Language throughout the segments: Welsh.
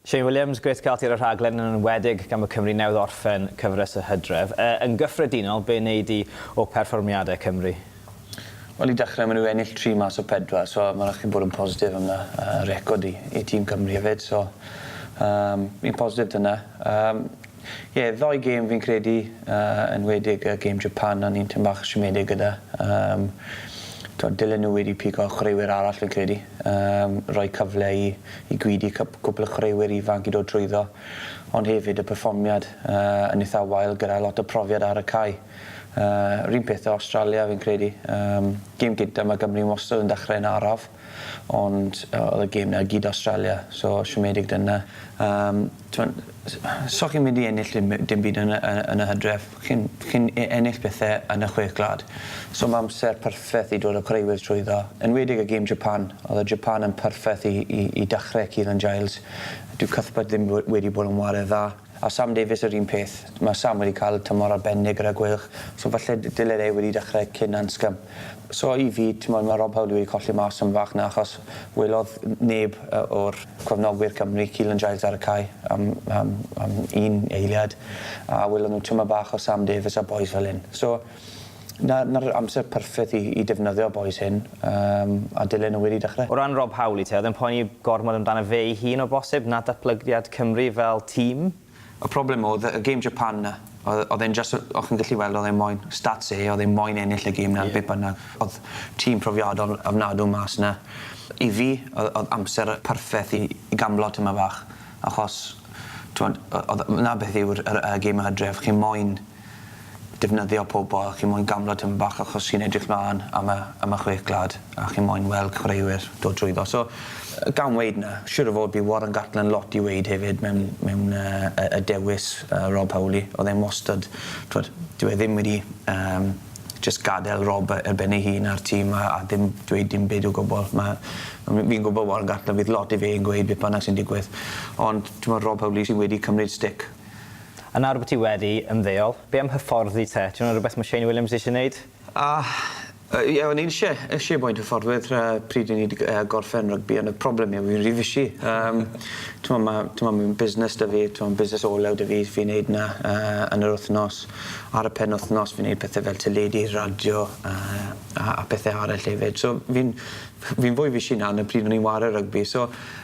Shane Williams, Grêt cael ti ar y rhaglen, yn enwedig gan bod Cymru newydd orffen cyfres y hydref. Yy, yn gyffredinol, be wnei di o perfformiadau Cymru? Wel, i dechrau, maen nhw wedi ennill tri mas o pedwar, so mae'n rhaid i chdi bod yn positif am 'na. Yy, record i i tîm Cymru hefyd, so yym, fi'n positif 'da 'na. Yym, ie, ddoi gêm fi'n credu, yy, yn enwedig y gêm Japan, o'n i'n tym' bach siomedig gyda. Yym, tibod, dylen nhw wedi pigo chwaraewyr arall fi'n credu. Yn rhoi cyfle i i gyd i cyp- cwpl o chwaraewyr ifanc i dod trwyddo, ond hefyd y perfformiad yy yn itha wael gyda lot o profiad ar y cae. Yy 'r un peth â Awstralia fi'n credu. Yym gêm gynta ma' Gymru wastod yn dechre yn araf ond yy o'dd y gêm 'na i gyd Awstralia so siomedig dyna. Yym. T'mod, s- so chi'n mynd i ennill dim by- dim byd yn y y yn y Hydref. Chi'n chi'n e- ennill pethe yn y Chwech Gwlad. So ma' amser perffeth i dod â chwaraewyr trwyddo. Enwedig y gêm Japan. Odd y Japan yn perffeth i i i dachre Keelan Giles. Dyw Cuthbert ddim we- wedi bod yn ware dda. A Sam Davies yr un peth. Ma' Sam wedi ca'l tymor arbennig gyda Gweilch, so falle d- dyle e wedi dachre cyn Anscombe. So i fi t'mod ma' Rob Howley wedi colli mas am fach 'na achos welodd neb yy o'r cefnogwyr Cymru Keelan Giles ar y cae am am am un eiliad a welon nw twma bach o Sam Davies a bois fel 'yn. So 'na 'na'r amser perffeth i i defnyddio bois hyn yym a dylen nw wedi dechre. O ran Rob Howley te, o'dd e'n poeni gormod amdano fe'i hun o bosib na datblygiad Cymru fel tîm? Y problem odd y game Japan na. Odd odd e'n jyst o- o' chi'n gallu weld odd e moyn stats e odd e moyn ennill y game na. Ie. Be' bynnag. Odd tîm profiadol ofnadw mas na. I fi odd odd amser perffeth i i gamblo tymed bach achos t'mod o- odd 'na beth yw'r yr y geme o Hydref chi moyn defnyddio pobl chi moyn gamlo tipyn bach achos chi'n edrych mlan am y am y chwech gwlad a chi moyn weld chwaraewyr dod trwyddo so yy gan weud 'na siŵr o fod bydd Warren Gatland lot i weud hefyd mewn mewn yy y y dewis yy Rob Howley o'dd e'n wastad t'wod dyw e ddim wedi yym jyst gadel Rob yy ar ben ei hun a'r tîm a a ddim dweud dim byd o gwbwl ma' a m- fi'n gwbo Warren Gatland fydd lot i fe yn gweud beth bynnag sy'n digwydd ond t'mod Rob Howley sy wedi cymryd stick A nawr bo ti wedi ymddeol, be am hyfforddi te? Ti'n meddwl rhywbeth ma Shane Williams eisie neud? A, yy, ie, o'n i'n isie, isie boi'n hyfforddwydd yy pryd o'n i 'di yy gorffen rygbi ond y problem yw fi'n ry fishy. Yym t'mo' ma' t'mo' ma' fi'n busnes 'da fi, t'mo' busnes olew 'da fi, fi'n neud 'na yy yn yr wthnos. Ar y penwthnos fi'n neud pethe fel teledu, radio a a a pethe arall hefyd. So fi'n fi'n fwy fishy nawr na pryd o'n i'n ware rygbi so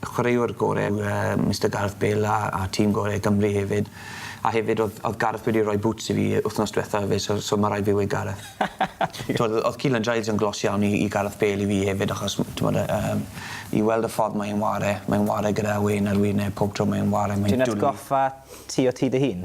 y chwaraewr gore yw yy Mister Gareth Bale a a tîm gore Cymru hefyd a hefyd odd odd Gareth wedi roi bŵts i fi yy wthnos dwetha efyd so so ma' raid fi weud Gareth. T'wod o- odd Keelan Giles yn glos iawn i i Gareth Bale i fi hefyd achos m- t'mod yy yym i weld y ffordd mae e'n 'ware mae'n 'ware gyda wên ar wyneb pob tro mae e'n 'ware mae'n dwli. Ti'n atgoffa ti o ti dy hun?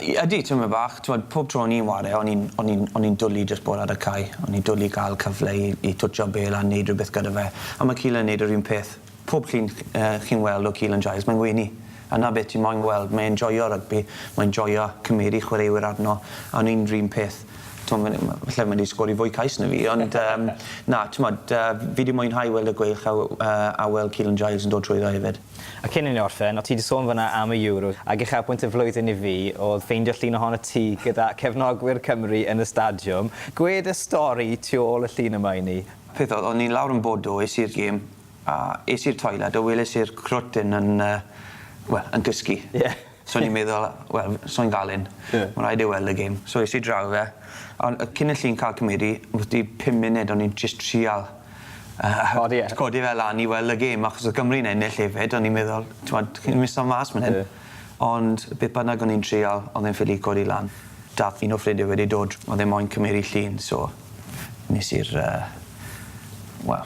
Y- ydy, tymed bach. T'mod, pob tro o'n i'n ware o'n i'n o'n i'n o'n i'n dwli jyst bod ar y cae. O'n i'n dwli ga'l cyfle i i twtsio bêl a neud rwbeth gyda fe. A ma' Keelan yn neud yr un peth. Pob llun ch- yy chi'n weld o Keelan Giles mae'n wenu. A 'na be' ti moyn weld. Mae e'n joio rygbi. Mae'n joio cymeru chwaraewyr arno. A o'n i'n 'r un peth. T'mo' ma' n- ma'... Falle mae 'di sgori fwy cais na fi ond yym na, t'mod yy fi 'di mwynhau weld y gweilch a w- yy a weld Keelan Giles yn dod trwyddo hefyd. A cyn i ni orffen, o' ti 'di sôn fan'na am y Euro, ag uchafbwynt y flwyddyn i fi o'dd ffeindio llun ohonot ti gyda cefnogwyr Cymru yn y stadiwm. Gwed y stori tu ôl y llun yma i ni. Peth oedd, o'n i lawr yn Bordeaux, es i'r gêm, a es i'r toiled a weles i'r crwt 'yn yn yy, wel, yn cysgu. Ie. So o'n i'n meddwl wel f- swy'n ga'l un. Ie. Ma' raid e weld y gem. So es i draw fe on' yy cyn y llun ca'l cymyd 'i wti pum munud o'n i'n jyst trial yy Codi e? Codi fe lan i weld y gem achos odd Gymru'n ennill efyd o'n i'n meddwl t'mod chi'n myn' i sa'l mas myn 'yn. Ie. Ond beth bynnag o'n i'n trial o'dd e'n ffili codi lan. Dath un o ffrindie wedi dod o'dd e moyn cymeru llun so nes i'r yy wel